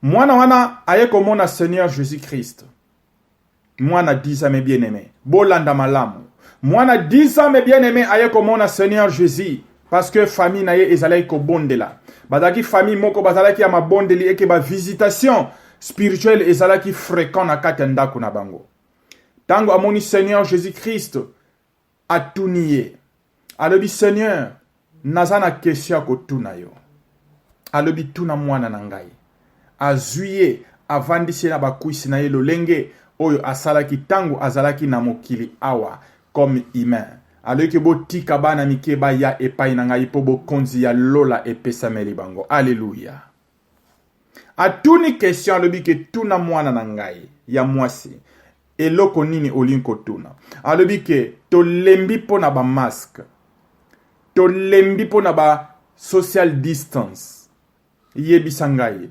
mwana wana aye komona seigneur jésus christ mwana 10 ans mes bien aimé bolanda malamu mwana 10 ans mes bien aimé aye komona seigneur jésus parce que famille na ye ezalaki kobondela bazalaki famille moko bazalaki ya mabondeli eke bavisitation spirituelle ezalaki fréquent na kati ya ndako na bango ntango amoni seigneur jésus christ atuni ye alobi seigneur naza na kesio ya kotuna yo alobi tuna mwana na ngai azwi ye avandisi ye na bakwisi na ye lolenge oyo asalaki ntango azalaki na mokili awa comme humain aloki botika bana mike baya epai na ngai mpo bokonzi ya lola epesameli bango aleluya atuni question alobi ke tuna mwana na ngai ya mwasi eloko nini olingi kotuna alobi ke tolembi mpo na bamaske tolembi mpo na ba social distance yebisa ngai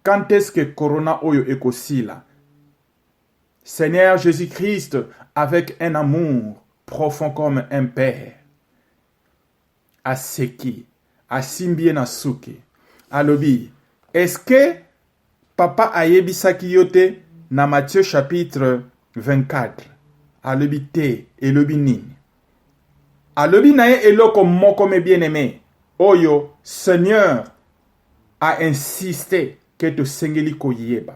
quand est-ce que corona oyo ekosila seigneur jésus christ avec un amour profond comme un père aseki asimbi ye na suki alobi eske papa ayebisaki yo te na Matthieu chapitre 24 alobi te elobi nini alobi na ye eloko moko me bien aime oyo seigneur a insiste ke tosengeli koyeba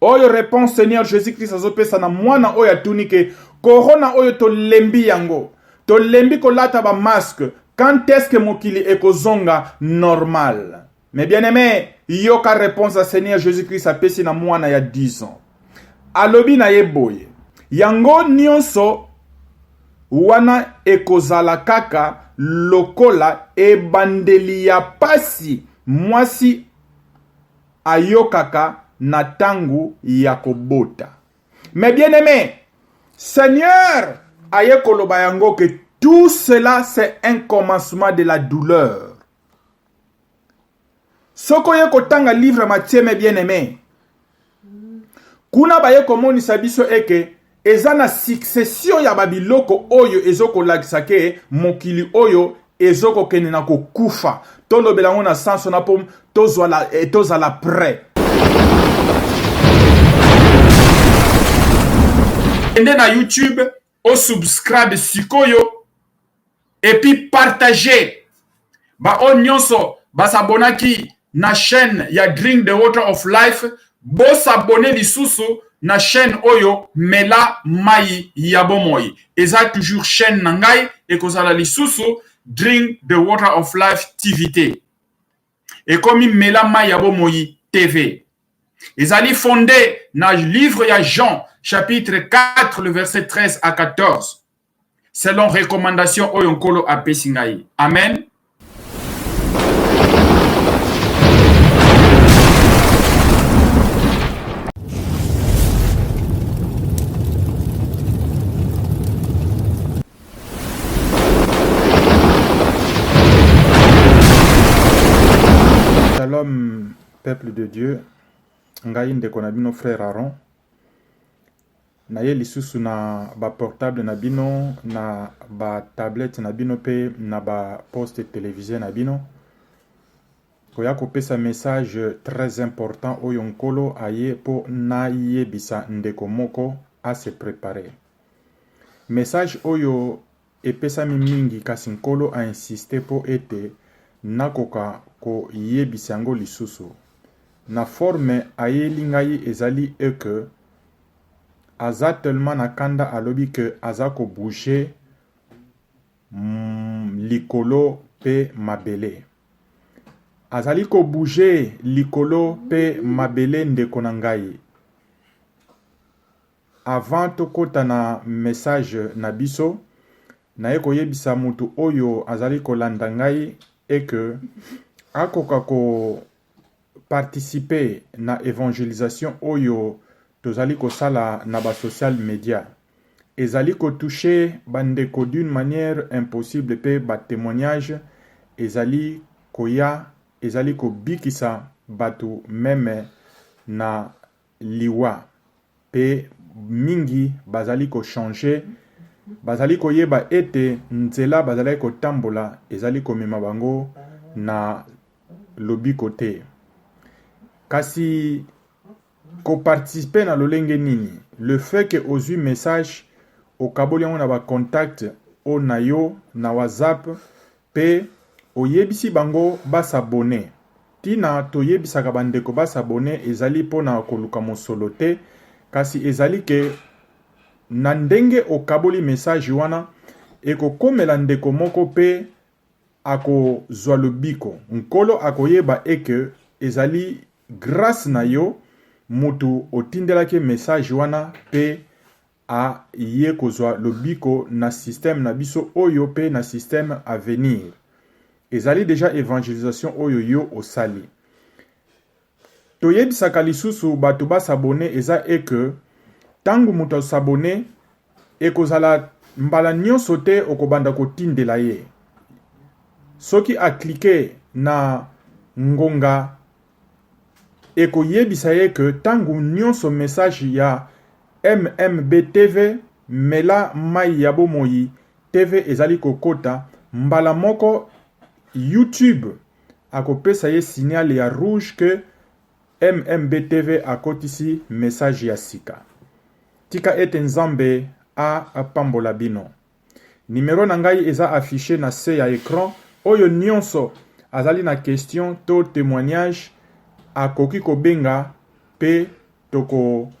oyo reponse seigneur jesus christ azopesa na mwana oyo atuni ke corona oyo tolembi yango tolembi kolata bamaske quand est ce que mokili ekozonga normal mais bien aime yoka reponse ya seigneur jesus christ apesi na mwana ya 10 ans alobi na ye boye yango nyonso wana ekozala kaka lokola ebandeli ya pasi mwasi ayokaka na tangu ya kobota mais bien aime seigneur aye koloba yango ke tout cela c'est un commencement de la douleur soki oye kotanga livre matieme bien aime kuna baye komonisa biso eke Eza na succession ya ba biloko oyo ezo kolakisa ke mokili oyo ezo kokende na kokufa. Tolobela yango na sens wana po tozwala eh, tozala près. Kende na YouTube o subscribe sikoyo et puis partager ba oyo nyonso basabonaki na chaîne ya drink the water of life bosabone lisusu na chaîne oyo mela mai ya bomoi eza toujours chaîne na ngai ekozala lisusu drink the water of life tv te ekomi mela mai ya bomoi tv ezali fonde na livre ya jean chapitre 4 le verset 13 à 14 selon recommandation oyo nkolo apesi ngai amen Shalom peuple de Dieu ngai ndeko na bino frère Aaron na ye lisusu na ba portable na bino na ba tablette na bino pe na ba poste televise na bino koya kopesa message très important oyo nkolo aye mpo nayebisa ndeko moko a se preparer message oyo Epesami mingi, kasi Nkolo a insister mpo ete nakoka koyebisa yango lisusu na forme ayeli ngai ezali e que aza tellement na kanda alobi que aza ko bouger likolo mpe mabele. Azali ko bouger likolo mpe mabele ndeko na ngai. Avant tokota na message na biso, naye koyebisa mutu oyo azali kolanda ngai est que akoka ko participer na evangelisation oyo tozali kosala na ba social media. Ezali ko toucher ba ndeko d'une manière impossible pe ba temoignages ezali koya ezali kobikisa batu meme na liwa pe mingi bazali ko changer bazali koyeba ete nzela bazalaki kotambola ezali komema bango na lobiko te kasi ko participer na lolenge nini le fait que ozui message okaboli yango na ba contact oyo nayo na whatsapp Pe oyebisi bango ba s'abonner. Tina toyebisaka ba ndeko ba s'abonner ezali pona koluka mosolo te, kasi ezali ke na ndenge okaboli message wana, ekokomela ndeko moko pe ako zua lobiko. Nkolo akoyeba et que ezali grace na yo mutu otindelaki ye message wana pe A ye kozwa lobiko na système na biso oyo pe na système à venir. Ezali dejà evangelisation oyo yo osali. To yebisaka lisusu batu ba s'abonner eza est que tangu mutu a s'abonner ekozala mbala nionso te okobanda kotindela ye. Soki a cliquer na ngonga ekoyebisa ye que tango nionso message ya MMB TV, Mela mayi ya bomoi TV ezali kokota, mbala moko YouTube akopesa ye signal ya rouge que MMB TV akotisi message ya sika. Tika ete Nzambe a pambola bino. Numero na ngai eza affiche na se ya ecran. Oyo nionso azali na question to temoignage akoki kobenga pe toko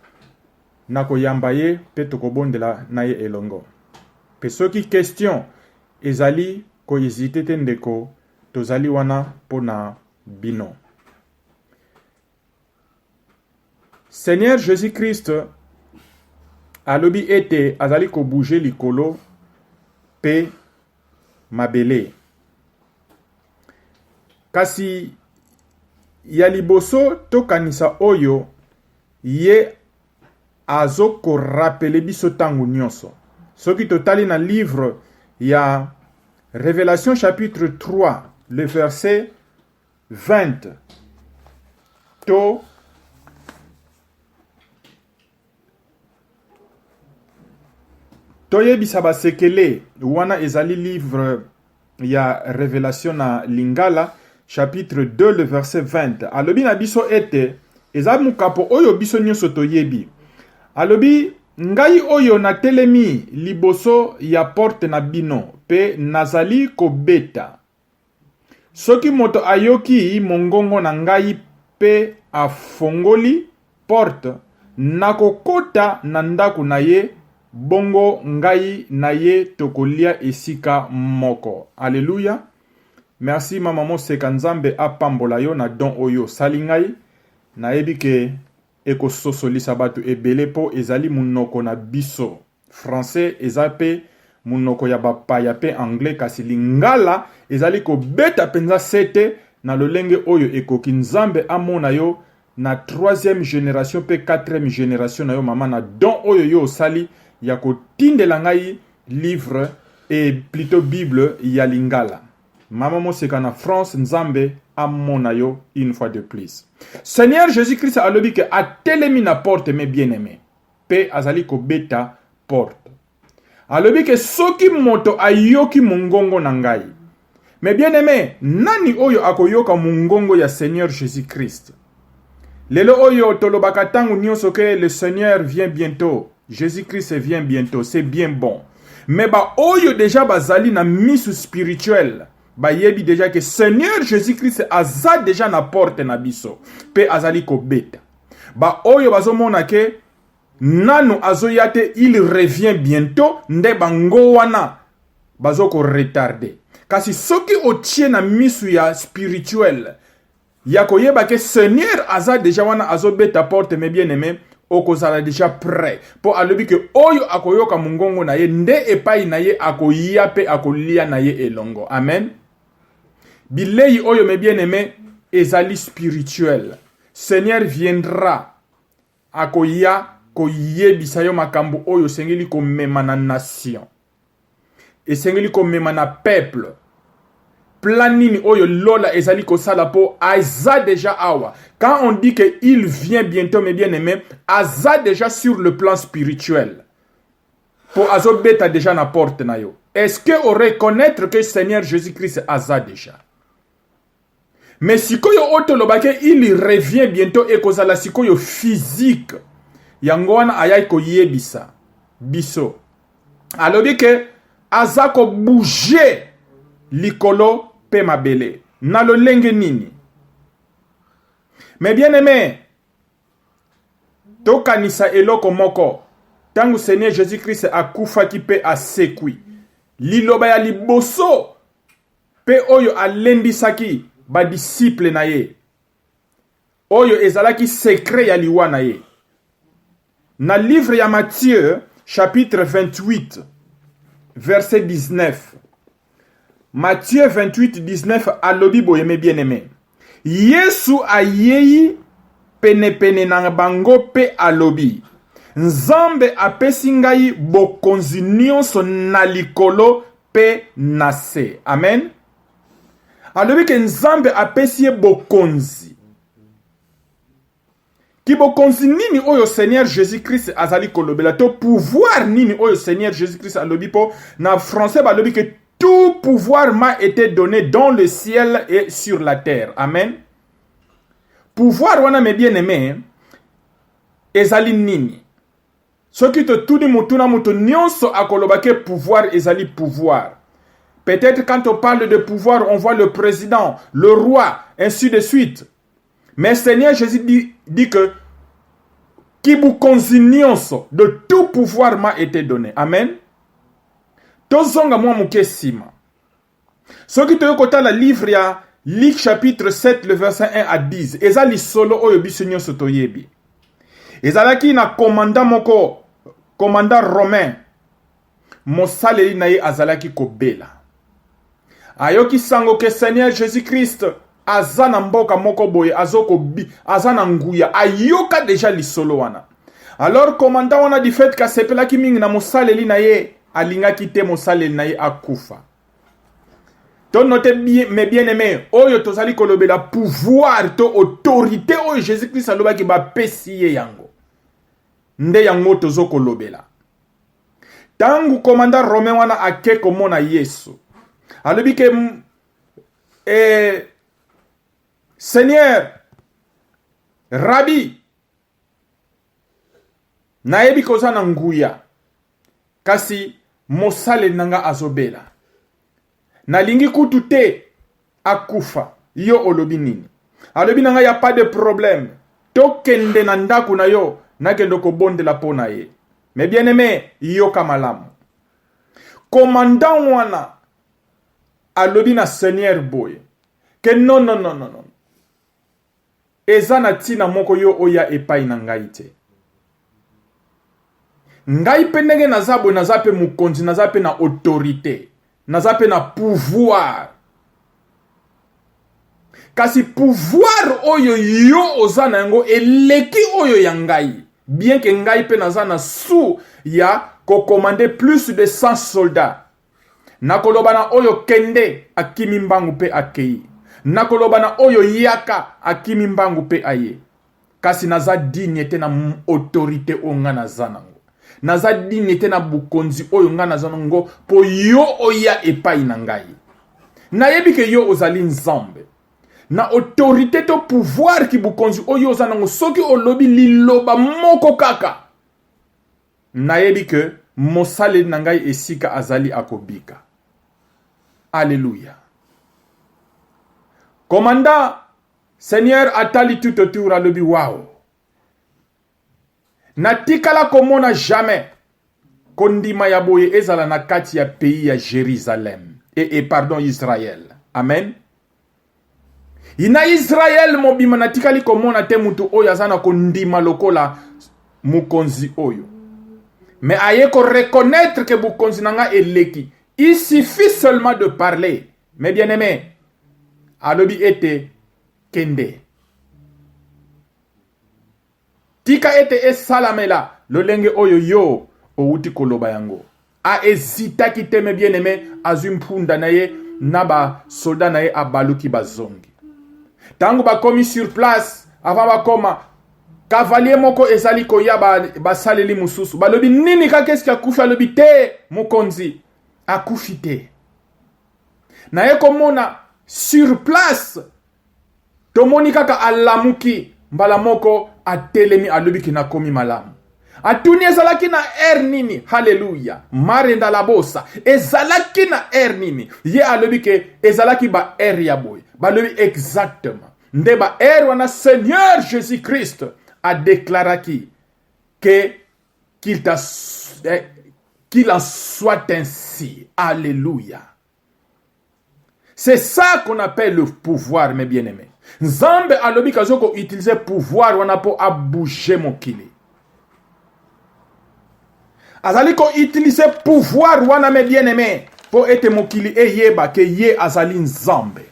na koyamba ye pe tokobondela na ye elongo. Pe soki question ezali ko hesiter te ndeko tozali wana pona bino. Seigneur Jesus-Christ alobi ete azali kobouge likolo mpe mabele. Kasi ya liboso tokanisa oyo ye azokorapele biso ntango nyonso. Soki totali na livre ya Revelation chapitre 3 le verset 20 to toyebisa basekele wana ezali livre ya revelation na lingala chapitre 2 le verset 20 alobi na biso ete eza mokapo oyo biso nyonso toyebi alobi ngai oyo natelemi liboso ya porte na bino mpe nazali kobeta Soki moto ayoki mongongo na ngai mpe afongoli porte, nakokota na ndako na ye, bongo ngai na ye tokolia esika moko. Alleluia! Merci mama Moseka, Nzambe apambola yo na don oyo osali ngai. Nayebi ke ekososolisa bato ebele mpo ezali monoko na biso. Français eza pe munoko ya bapaya pe anglais kasi lingala ezali kobeta penza sete na lolenge oyo ekoki nzambe amona yo na troisième generation pe quatrième generation na yo mama na don oyo yo osali ya kotindela ngai livre et plutot bible ya lingala mama moseka na France nzambe amona yo une fois de plus Seigneur Jésus-Christ alobi ke atelemi na porte mes bien-aimés mpe azali kobeta porte. Alobi ke soki moto ayoki mongongo na ngai. Mais bien aime, nani oyo akoyoka mongongo ya Seigneur Jesus Christ? Lelo oyo tolobaka ntango nyonso ke le Seigneur vient bientôt, Jesus Christ vient bientôt, c'est bien bon. Mais ba oyo deja bazali na misu spirituel bayebi deja ke Seigneur Jesus Christ aza deja na porte na biso mpe azali kobeta. ba oyo bazomona ke nanu azoya te il revient bientôt nde bango wana bazoko retarde kasi soki otie na misu ya spirituel ya koyeba ke seigneur aza deja wana azobeta porte me bien aime okozala deja prêt mpo alobi ke oyo akoyoka mongongo na ye nde epai na ye akoya mpe akolia na ye elongo amen Bilei oyo mes bien-aimés ezali spirituel. Seigneur viendra akoya koyebisa yo makambo oyo osengeli komema na nation. Esengeli komema na peuple. Plan nini oyo Lola ezali kosala po aza déjà awa. Quand on dit que il vient bientôt mes bien-aimés, aza déjà sur le plan spirituel. po azo beta deja na porte na yo est-ce que o reconnaître que seigneur jésus christ aza deja mais sikoyo oyo tolobaki il revient bientôt ekozala sikoyo physique yango wana ayaki koyebisa biso alobi ke aza kobouge likolo mpe mabele na lolenge nini me bien aime Tokanisa eloko moko, ntango Seigneur Jesus-Christ akufaki mpe asekwi, liloba ya liboso mpe oyo alendisaki ba disciples na ye, oyo ezalaki secret ya liwa na ye. Na livre ya Matthieu chapitre 28 verset 19, Matthieu 28, 19 alobi boye me bien aime. Yesu ayei penepene na bango mpe alobi, Nzambe apesi ngai bokonzi nyonso na likolo mpe na se. Amen. Alobi ke Nzambe apesi ye bokonzi. Kibokonzi nini oyo Seigneur Jesus-Christ azali kolobela to pouvoir nini oyo Seigneur Jesus-Christ alobi po na français balobi que tout pouvoir m'a été donné dans le ciel et sur la terre. Amen. Pouvoir wana mes bien-aimés ezali nini? Soki totuni mutu na mutu nyonso akoloba ke pouvoir ezali pouvoir. Peut-être quand on parle de pouvoir, on voit le président, le roi, ainsi de suite. Mais Seigneur Jésus dit, dit que kibukonzi nyonso de tout pouvoir m'a été donné. Amen. Tozonga mwa moke nsima. Soki toyei kotala livre ya Luc chapitre 7 le verset 1 à 10 eza lisolo oyo biso nyonso toyebi. Ezalaki na commandant moko, commandant romain Mosaleli na ye azalaki kobela. Ayoki sango ke Seigneur Jesus Christ aza na mboka moko boye azo kobi aza na nguya ayoka deja lisolo wana. Alors commandant wana du fait kasepelaki mingi na mosaleli na ye alingaki te mosaleli na ye akufa. To note bien, mes bien aimés, oyo tozali kolobela pouvoir to autorité oyo Jésus-Christ alobaki bapesi ye yango. Nde yango tozo kolobela. ntango komanda rome wana ake komona yesu alobi ke e, seigneur rabi nayebi koza na nguya kasi mosaleli na ngai azobela nalingi kutu te akufa yo olobi nini alobi na ngai ya pas de problème tokende na ndako na yo nakende kobondela mpo na ye me bien aime yoka malamu commandant wana alobi na seigneur boye ke non non non non Eza na tina moko yo oya epayi na ngai te. Ngai pe ndenge naza boye naza pe mokonzi naza pe na autorite naza pe na pouvoir kasi pouvoir oyo yo oza na yango eleki oyo ya ngai bien ke ngai pe naza na sous ya kokomande plus de 100 soldats Nakoloba na oyo kende, akimi mbangu mpe akei. Nakoloba na oyo yaka, akimi mbangu mpe aye. Kasi naza digne te na autorite oyo nga naza nango. Naza digne te na bokonzi oyo nga naza nango mpo yo oya epai na ngai. Nayebi ke yo ozali Nzambe. Na autorite to pouvoir ki bokonzi oyo oza nango soki olobi liloba moko kaka Nayebi que mosaleli na ngai esika azali akobika. Alleluia. Commandant, Seigneur atali tout autour alobi wao. Natikala komona jamais kondima ya boye ezala na kati ya pays ya Jérusalem. Et, eh, et eh, pardon, Israël. Amen. Na Israel mobimba natikali komona te moto oyo aza na kondima lokola mokonzi oyo, me aye ko reconnaître ke bokonzi na nga eleki. Il suffit seulement de parler, mes bien aime alobi ete kende Tika ete esalamela lolenge oyo yo owuti koloba yango. A hesitaki te, mais bien-aime azui mpunda na ye na ba soldats na ye abaluki bazongi. Tango bakomi sur place, avant bakoma, cavalier moko ezali koya basaleli ba mosusu balobi nini kaka eske akufi alobi te mokonzi akufi te naye komona sur place tomoni kaka alamuki mbala moko atelemi alobi ke nakomi malamu atuni ezalaki na ere nini haleluya marenda labosa ezalaki na ere nini ye alobi ke ezalaki ba ere ya boye balobi exactement nde ba ere wana seigneur jésus christ adeklaraki ke qu'il eh, qu'il en soit ainsi alléluia C'est ça qu'on appelle le pouvoir, mes bien-aimés. Nzambe alobi kazo ko utiliser pouvoir wana po a bouger mokili. Azali ko utiliser pouvoir wana mes bien-aimés po ete mokili eyeba ke ye azali Nzambe.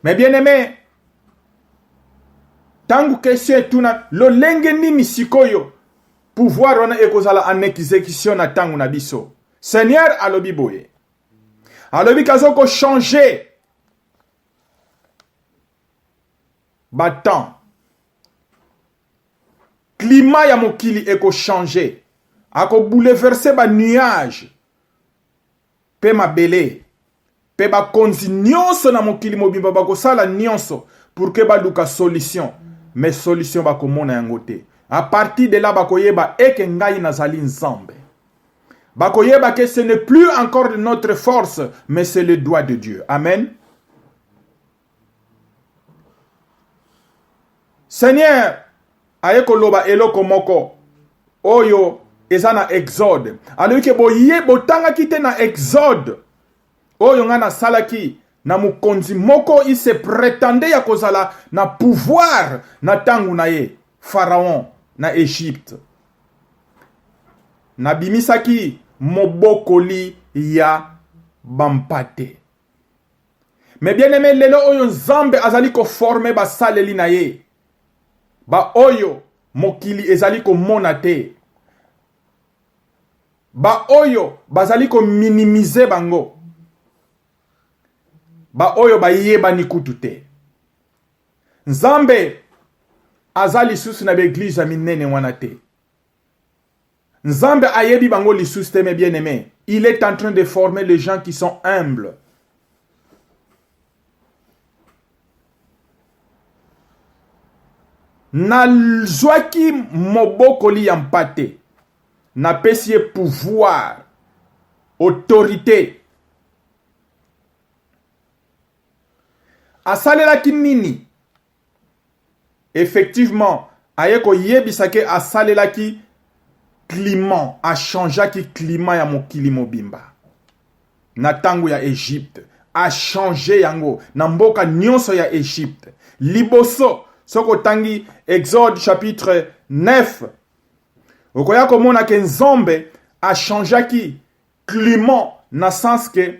Mais bien aimé, tangu question etuna lolenge nini sikoyo pouvoir wana ekozala en exécution na tangu na biso. Seigneur alobi boye. Alobi kazo ko changer ba temps. Climat ya mokili eko changer. Ako bouleverser ba nuages. mpe mabele, mpe bakonzi nyonso na mokili mobimba bakosala nyonso pour que baluka solution, mais solution bakomona yango te. A partir de là bakoyeba eke ngai nazali Nzambe. Bakoyeba que ce n'est plus encore de notre force, mais c'est le doigt de Dieu. Amen. Seigneur aye koloba eloko moko oyo eza na exode alobi ke boye botangaki te na exode oyo ngai nasalaki na mokonzi moko il se pretendait ya kozala na pouvoir na ntango na ye pharaon na egypte nabimisaki mobokoli ya bampate me bien aime lelo oyo nzambe azali koforme basaleli na ye baoyo mokili ezali komona te baoyo bazali kominimize bango baoyo bayebani kutu te nzambe aza lisusu na baeglize ya minene wana te Nzambe ayebi bango lisusu te mes bien aimé. Il est en train de former les gens qui sont humbles. nazwaki mobokoli ya mpate napesi ye pouvoir autorité asalelaki nini Effectivement, aye koyebisa ke asalelaki climat, a changeaki climat ya mokili mobimba. Na tango ya Egypte, a changer yango na mboka nyonso ya Egypte. Liboso, soki otangi Exode chapitre 9, okoya komona ke Nzambe a changeaki climat na sens ke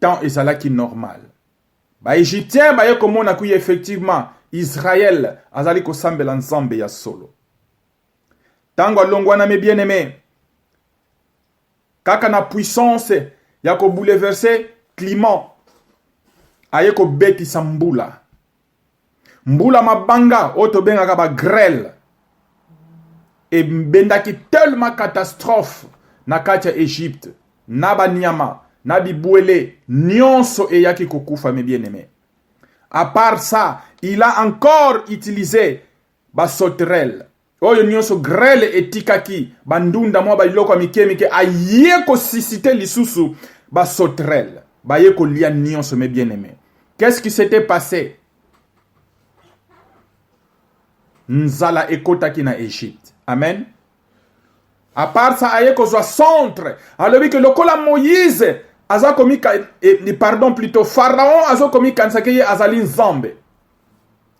Temps ezalaki normal. Ba Egyptiens baye komona kuye effectivement Israël azali kosambela Nzambe ya solo. Tango alongwanami bien aimé kaka na puissance ya ko bouleverser climat aye kobetisa mbula mbula mabanga oyo tobengaka ba grele ebendaki tellement catastrophe na kati ya egypte na banyama na bibwele nyonso eyaki kokufa mes bien aimé à part ça il a encore utilisé ba sauterelles oyo nyonso grele etikaki bandunda mwa bailoko ya mike mike aye kosisite lisusu basotrele baye kolia nyonso me bien aime qu'est-ce qui s'était passé nzala ekotaki na egypte amen apart ça aye kozwa centre alobi ke lokola moïse aza komika eh, pardon plutôt pharaon azokomikanisa ke ye azali nzambe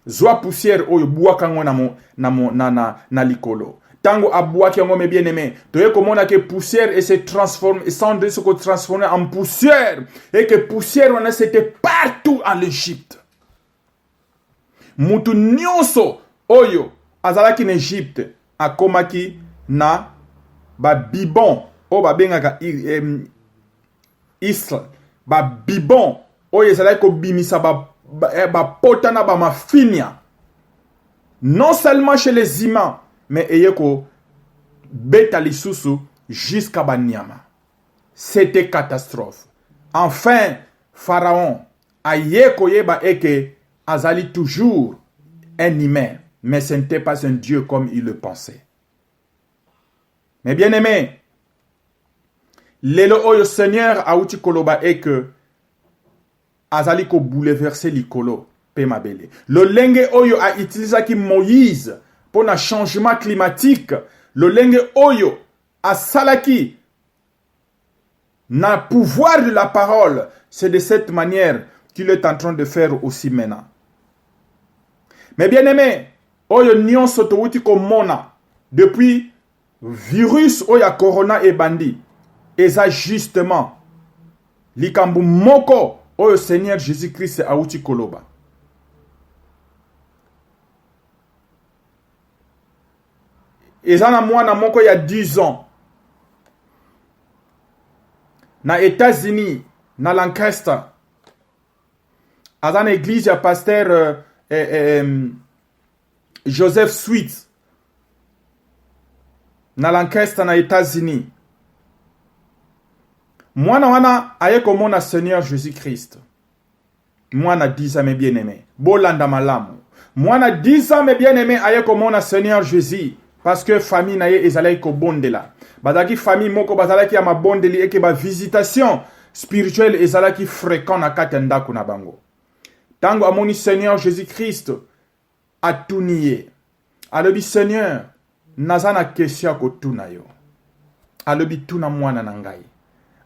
zwa poussière oyo bwaka yango na, mo, na, mo, na, na, na likolo ntango abwaki yango me bien aimé toye komona ke poussière et se transforme esandre se kotransforme en poussière et que poussière wana c'était partout en l'égypte mutu nyonso oyo azalaki na egypte akomaki na ba bibon oyo babengaka isl ba bibon oyo ezalaki kobimisa ba eh, bapota na bamafinia non seulement chez les humains mais eye kobeta lisusu jusqu'à banyama c'était catastrophe enfin pharaon aye koyeba eke azali toujours un humain mais ce n'était pas un dieu comme il le pensait mais bien aimé lelo oyo seigneur awuti koloba eke azali kobouleverse likolo mpe mabele lolenge oyo autilisaki moïse mpo na changement climatique lolenge oyo asalaki Na pouvoir de la parole, c'est de cette manière qu'il est en train de faire aussi maintenant. Mais bien aimé, oyo nyonso towuti komona depuis virus oyo ya corona ebandi eza justement likambo moko oyo seigneur jésus christ awuti koloba eza na mwana moko ya 10 ans na États-Unis na Lancaster aza na église ya pasteur euh, eh, eh, Joseph Sweet na Lancaster na États-Unis mwana wana aye komona Seigneur Jésus-Christ Mwana disa me bien aime. Bolanda malamu. Mwana disa me bien aime aye komona Seigneur Jésus. parce que famille na ye ezalaki kobondela bazalaki famille moko bazalaki ya mabondeli eke bavisitation spirituelle ezalaki fréquent na kati ya ndako na bango ntango amoni seigneur jésus christ atuni ye alobi seigneur naza na question ya kotuna yo alobi tuna mwana na ngai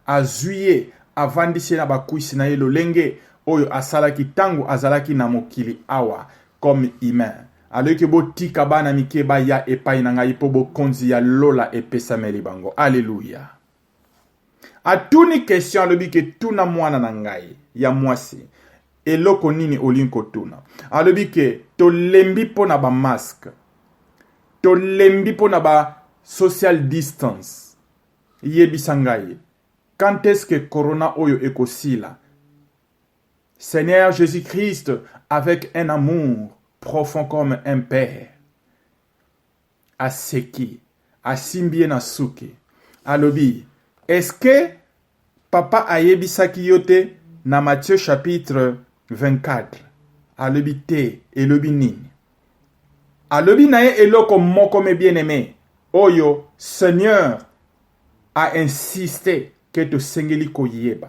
azwi ye avandisi ye na bakwisi na ye lolenge oyo asalaki ntango azalaki na mokili awa comme humain aloki botika bana mike baya epai na ngai mpo bokonzi ya lola epesameli bango aleluya atuni question alobi ke tuna mwana na ngai ya mwasi eloko nini olingi kotuna alobi ke tolembi mpo na bamaske tolembi mpo na ba social distance yebisa ngai quand est-ce que corona oyo ekosila seigneur jésus-christ avec un amour profond comme un père aseki asimbi ye na suki alobi eske papa ayebisaki yo te na Matthieu chapitre 24 alobi te elobi nini alobi na ye eloko moko me bien aime oyo seigneur a insiste ke tosengeli koyeba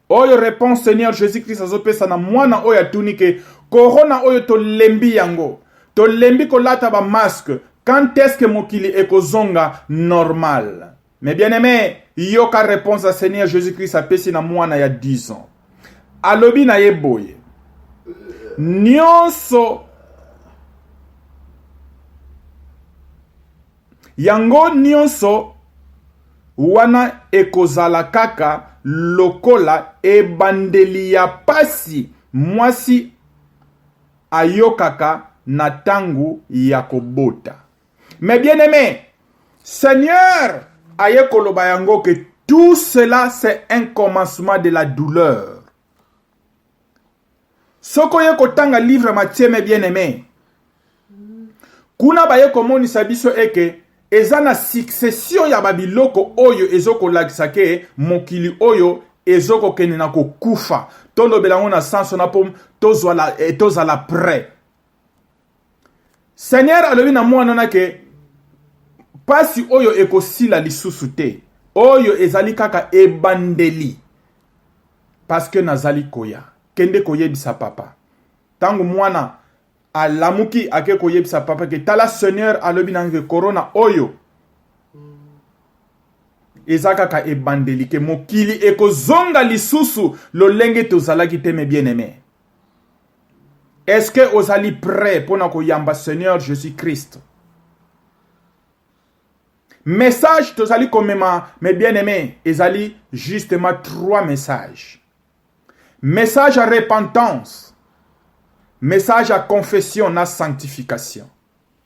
oyo reponse seigneur jesus christ azopesa na mwana oyo atuni ke corona oyo tolembi yango tolembi kolata bamaske quand est ce que mokili ekozonga normal mais bien aime yoka reponse ya seigneur jesus christ apesi na mwana ya 10 ans alobi na ye boye nyonso Yango nionso wana ekozala kaka lokola ebandeli ya pasi mwasi ayokaka na tango ya kobota. Mes bien-aimes, Seigneur aye koloba yango que tout cela c'est un commencement de la douleur. Soko ye kotanga livre ya Matthieu me bien aime kuna baye komonisa biso eke eza na succession ya babiloko oyo ezokolakisa ke mokili oyo ezokokende na kokufa tolobela yango na sanso na po tozala, eh, tozala près seigneur alobi na mwana wana ke mpasi oyo ekosila lisusu te oyo ezali kaka ebandeli paske nazali koya kende koyebisa papa ntango mwana alamuki ake koyebisa papa ke tala seigneur alobi na ke korona oyo eza kaka ebandeli ke mokili ekozonga lisusu lolenge tozalaki te me bien aime Est-ce que ozali prêt pona koyamba Seigneur Jésus-Christ? Message tozali komema mes bien-aimés ezali justement trois messages. Message à repentance, message à confession na sanctification.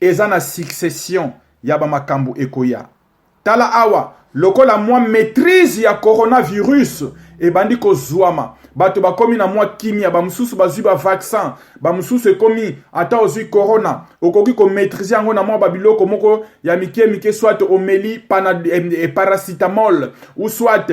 Eza na succession ya ba makambo ekoya. Tala awa, lokola mwa maitrise ya coronavirus ebandi kozuama, bato bakomi na mwa kimya, ba mosusu bazwi ba vaccin, ba mosusu ekomi ata ozwi corona, okoki ko maitriser yango na mwa ba biloko moko ya mike mike, soit omeli pana, eh, paracetamol ou soit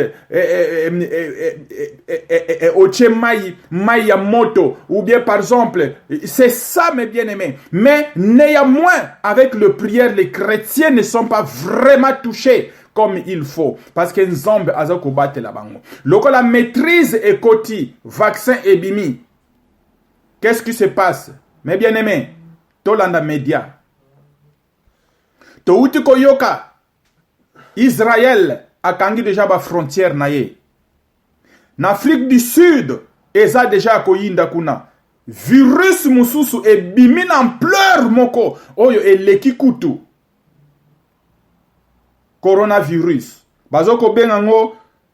otie mai mai ya moto ou bien par exemple c'est ça mes bien aimés mais néanmoins avec le prière les chrétiens ne sont pas vraiment touchés comme il faut parce que nzambe aza kobatela bango lokola maîtrise ekoti vaccin ebimi qu'est-ce qui se passe mes bien aimés tolanda média touti koyoka Israël akangi deja ba frontières na ye na Afrique du Sud eza deja ya koyinda kuna virus mosusu ebimi na ampleur moko oyo eleki kutu coronavirus bazo kobenga ngo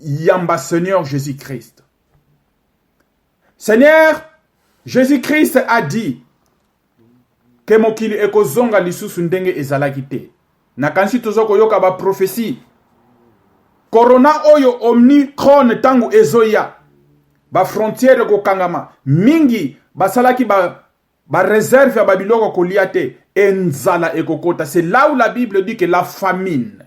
yamba Seigneur Jésus-Christ. Seigneur Jésus-Christ a dit que mokili ekozonga lisusu ndenge ezalaki te. Nakanisi toza koyoka ba prophétie. Corona oyo Omicron tangu ezoya ba frontières ekokangama mingi basalaki ba ba réserve ya babiloko kolia te enzala ekokota c'est là où la bible dit que la famine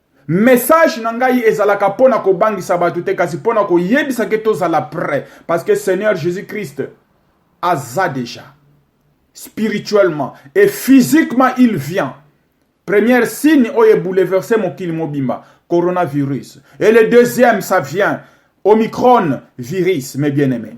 Message na ngai ezalaka mpo na kobangisa bato te kasi mpo na koyebisa ke tozala prêt parce que Seigneur Jésus Christ aza déjà spirituellement et physiquement il vient Première signe oyo ebouleverse mokili mobimba coronavirus et le deuxième ça vient Omicron virus mes bien-aimés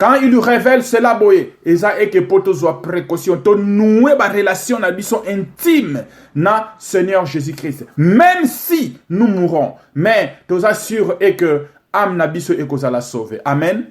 quand il révèle cela boye eza eke mpo tozwa précaution tonoue barelation na biso intime na seigneur jésus christ même si nous mourons mais toza sur e que ame na biso ekozala sauve amen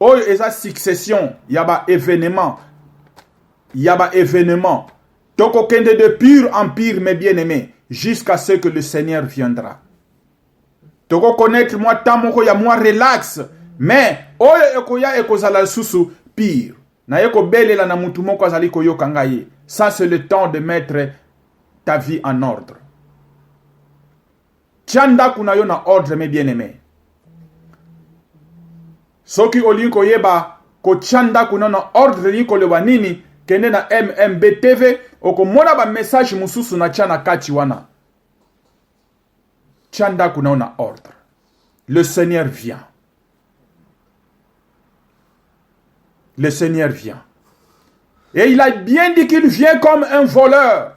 oyo eza succession ya ba événement ya ba événement tokokende de pure en pire mes bien aimé jusqu'à ce que le seigneur viendra tokokonaître mwa temps moko ya mwa relax mais oyo ekoya ekozala lisusu pire naye kobelela na motu moko azali koyoka ngai ye ça c'est le temps de mettre ta vie en ordre Tia ndako na yo na ordre me bien aime. Soki olingi koyeba kotia ndako na na ordre elingi koloba nini, kende na MMB TV okomona ba message mosusu na tia na kati wana. Tia ndako na yo na ordre. Le Seigneur vient. Le Seigneur vient. Et il a bien dit qu'il vient comme un voleur.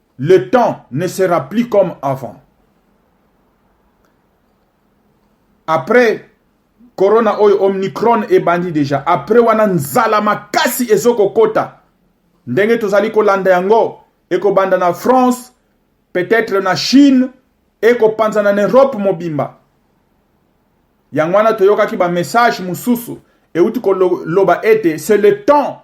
le temps ne sera plus comme avant après corona oyo omnicron ebandi deja après wana nzala makasi ezokokota ndenge tozali kolanda yango ekobanda na france peut-être na chine ekopanzana na europe mobimba yango wana toyokaki bamessage mosusu euti koloba ete c'est le temps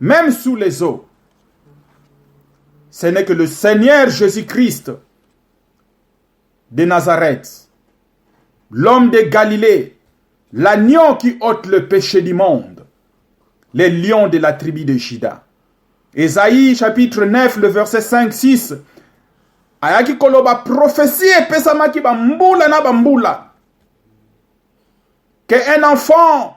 Même sous les eaux, ce n'est que le Seigneur Jésus-Christ de Nazareth, l'homme de Galilée, l'agneau qui ôte le péché du monde, les lions de la tribu de Juda. Esaïe chapitre 9, le verset 5-6, ayaki koloba prophétie epesamaki bambula na bambula que un enfant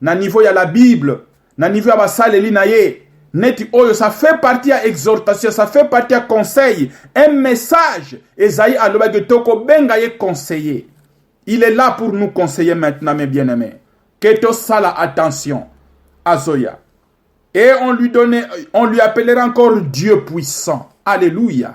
na niveau ya la bible na niveau ya basaleli na ye neti oyo ça fait partie ya exhortation ça fait partie ya conseil un message ezayi alobaki tokobenga ye conseiller il est là pour nous conseiller maintenant mes bien aimés que tosala attention azoya et on lui donnait on lui appellera encore dieu puissant alléluia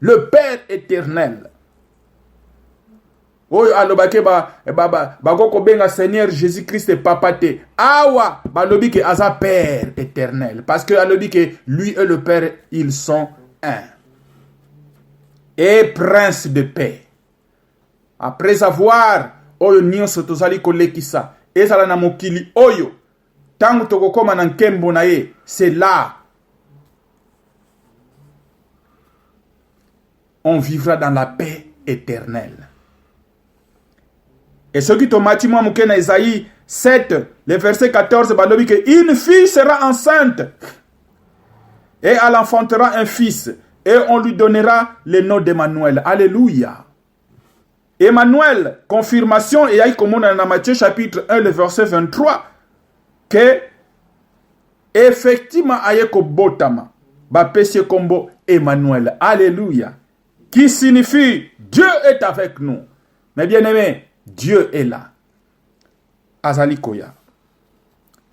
le père éternel oyo alobaki bakoki ba, ba, ba kobenga seigneur jésus christ papa te awa balobi ke aza père éternel parce que alobi ke lui et le père ils sont un et prince de paix après avoir oyo nyonso tozali kolekisa ezala na mokili oyo ntango tokokoma na nkembo na ye cela on vivra dans la paix éternelle e soki tomati mwa moke na ezai 7 le verset 14 balobi ke une fille sera enceinte et elle enfantera un fils et on lui donnera le nom d'emmanuel alleluia Emmanuel, confirmation eyaki komonana na Matthieu chapitre 1 le verset 23 que effectivement aye kobotama bapesi ye kombo Emmanuel. Alléluia. Qui signifie Dieu est avec nous. Mais bien aimé, Dieu est là. azali koya.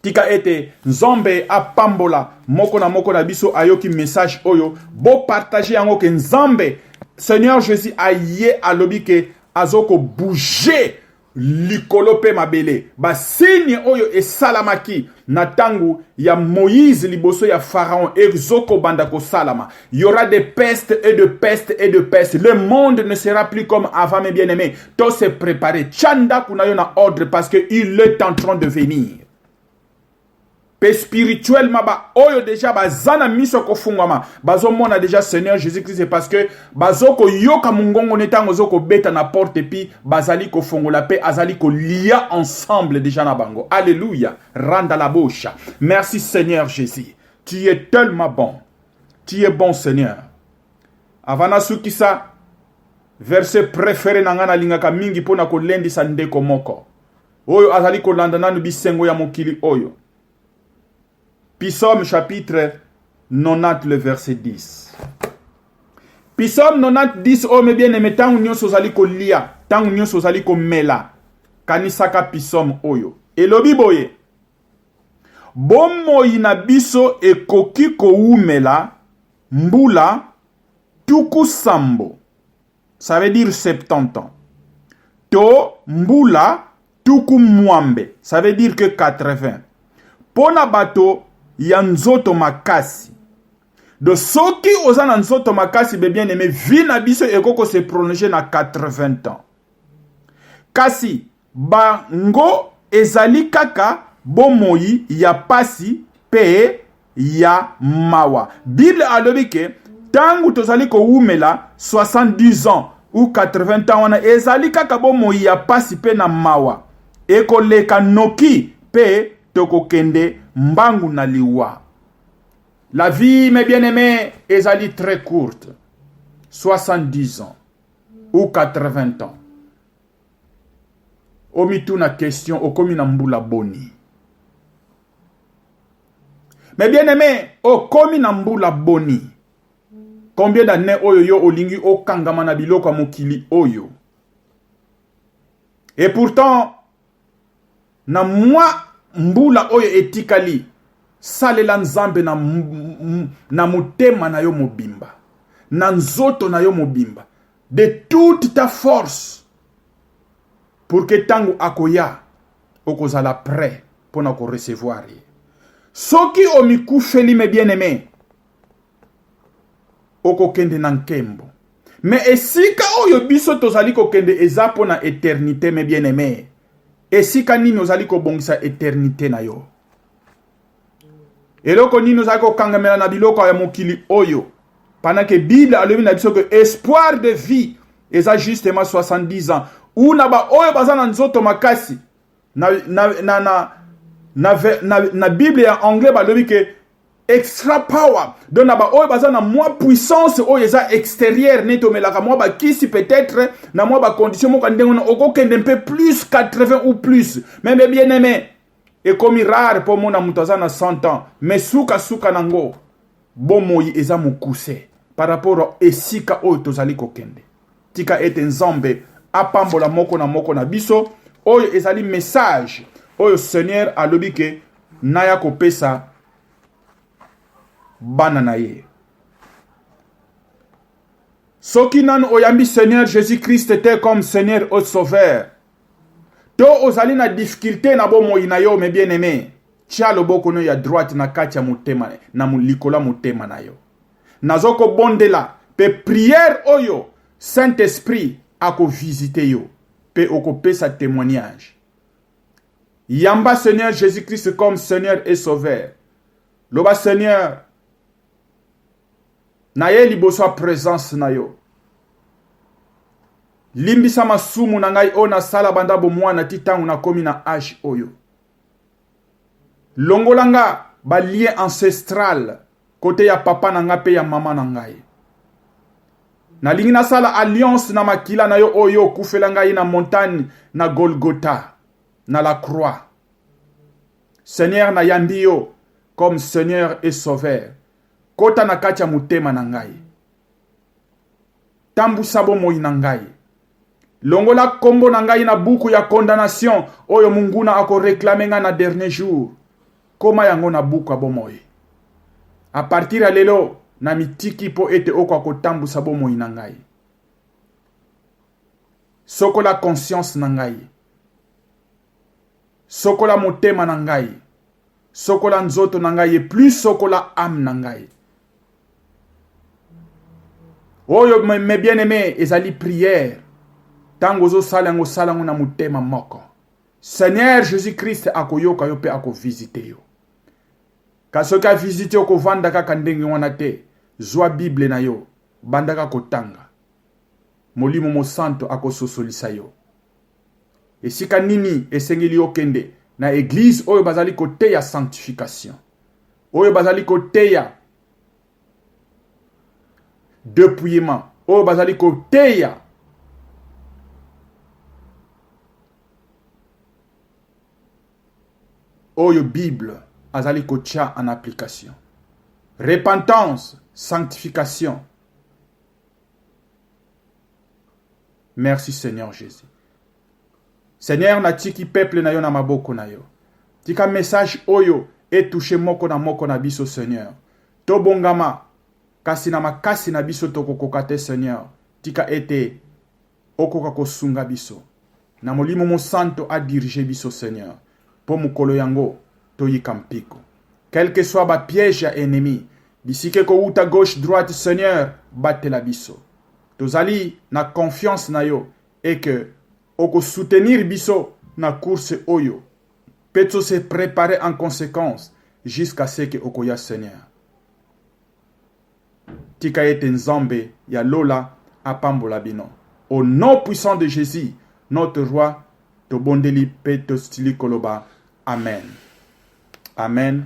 Tika ete Nzambe apambola moko na moko na biso ayoki message oyo, bo partager yango ke Nzambe Seigneur Jésus aye alobi ke azoko bouger likolo pe mabele. Ba signe oyo esalamaki na tango ya Moïse liboso ya Pharaon ezoko banda kosalama il y aura des pestes et de pestes et de pestes le monde ne sera plus comme avant mes bien-aimés to se préparer chanda kuna yo na ordre parce que il est en train de venir pe spirituellement ba oyo déjà baza na miso kofungwama bazomona déjà Seigneur Jésus-Christ parce que bazo koyoka mongongo ne ntango ozo kobeta na porte epi bazali kofongola mpe azali kolia ensemble deja na bango alleluya randa la bosha merci seigneur jésus tu es tellement bon tu es bon seigneur avant nasukisa verse préféré na ngai nalingaka mingi mpo na kolendisa ndeko moko oyo azali kolanda nanu bisengo ya mokili oyo Psaume chapitre 90 le verset 10. Psaume 90 10 oyo me bien aime ntango nyonso ozali kolia, ntango nyonso ozali komela, kanisaka psaume oyo. Elobi boye: Bomoi na biso ekoki kowumela mbula tuku sambo. ça veut dire 70 ans to mbula tuku mwambe ça veut dire que 80 mpo na bato ya nzoto makasi do soki oza na nzoto makasi be bien aime vie na biso ekoki kose prolonger na 80 ans kasi Bango ezali kaka bomoi ya pasi pe ya mawa. Bible alobi ke tangu tozali kowumela 70 ans ou 80 ans wana ezali kaka bomoi ya pasi pe na mawa. Ekoleka noki pe tokokende mbangu na liwa. La vie mes bien aime ezali très courte 70 ans ou 80 ans. omituna question okomi na mbula boni mais bien aimé okomi na mbula boni combien d'année oyo yo olingi okangama na biloko ya mokili oyo et pourtant Na mwa mbula oyo etikali, salela Nzambe na, na motema na yo mobimba, na nzoto na yo mobimba, de toute ta force, pour que ntango akoya okozala prêt mpo na korecevoir ye. Soki omikufeli me bien aime, okokende na nkembo me esika oyo biso tozali kokende eza mpo na eternite me bien aime esika nini ozali kobongisa eternite na yo eloko nini ozali kokangamela na biloko ya mokili oyo pendant que bible alobi na biso que espoir de vie eza justement 70 ans ou na baoyo baza na nzoto makasi na, na, na, na, na, na, na bible ya anglais balobi ke extra power donc na baoyo baza na mwa puissance oyo eza extérieure neti omelaka mwa bakisi peut-être na mwa bacondition moko ya ndenge wana okokende mpe plus 80 ou plus mais me bien aimé ekomi rare mpo omona moto aza na 100 ans mais sukasuka nango bomoi eza mokuse par rapport esika oyo tozali kokende Tika ete Nzambe apambola moko na moko na biso. Oyo ezali message oyo Seigneur alobi ke naya kopesa bana na ye. soki nanu oyambi seigneur jésus christ te comme seigneur o sauveur to ozali na difficulté na bomoi na yo me bien aimé tya loboko no ya droite na kati ya motema na likolo ya motema na yo nazo ko bondela pe prière oyo Saint Esprit ako visiter yo pe oko pesa témoignage. Yamba Seigneur Jésus-Christ comme Seigneur et Sauveur. Loba Seigneur na ye liboso ya présence na yo. Limbisa masumu na ngai oyo nasala banda bomwana ti ntango nakomi na age oyo. longola nga ba lien ancestral kote ya papa na nga pe ya mama na ngai nalingi nasala alliance na makila na yo oyo okufela ngai na montagne na golgota na la croix seigneur nayambi yo comme seigneur et sauveur kota na kati ya motema na ngai tambusa bomoi na ngai longola nkombo na ngai na buku ya condamnation oyo monguna akoreklame ngai na dernier jour koma yango na buku ya bomoi a partir ya lelo na mitiki mpo ete okoka kotambusa bomoi na ngai sokola conscience na ngai sokola motema na ngai sokola nzoto na ngai et plus sokola ame na ngai oyo mes bien aimé ezali prière ntango ozosala yango osala yango na motema moko seigneur jésus christ akoyoka yo mpe akovisite yo kasi soki avisite yo kovanda kaka ndenge wana te zwa bible na yo bandaka kotanga molimo mosanto akososolisa yo Esika nini esengeli okende? Na eglise oyo bazali koteya sanctification, oyo bazali koteya depouillement, oyo bazali koteya oyo Bible azali kotya en application. Repentance, sanctification. Merci Seigneur Jésus. Seigneur, natiki peuple na yo na maboko na yo. Tika message oyo etouche moko na moko na biso Seigneur. Tobongama kasi na makasi na biso tokokoka te Seigneur. Tika ete Okoka kosunga biso na Molimo Mosanto a diriger biso Seigneur mpo mokolo yango toyika mpiko quelque soit ba piège ya ennemi bisika ekowuta gauche droite Seigneur batela biso tozali na confiance na yo et que oko soutenir biso na course oyo mpe to se preparer en consequence jusqu'à ce que okoya Seigneur. Tika ete Nzambe ya lola apambola bino. Au nom puissant de Jesus, notre roi, tobondeli pe tosili koloba amen. Amen.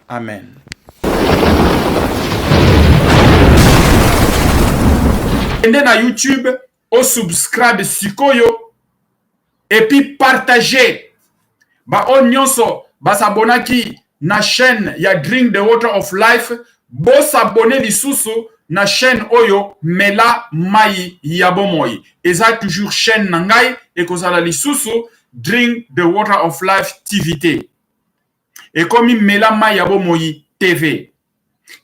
Amen. Kende na YouTube o subscribe sikoyo et puis partager ba oyo nyonso ba s'abonnaki na chaîne ya Drink the Water of Life bo s'abonner lisusu na chaîne oyo Mela mayi ya bomoi eza toujours chaîne na ngai ekozala lisusu Drink the Water of Life TV te ekomi mela mai ya bomoi tv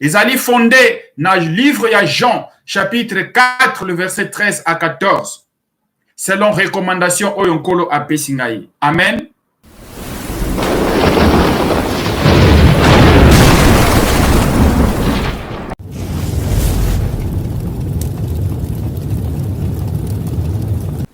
ezali fonde na livre ya jean chapitre 4 le verset 13 à 14 selon recommandation oyo nkolo apesi ngai amen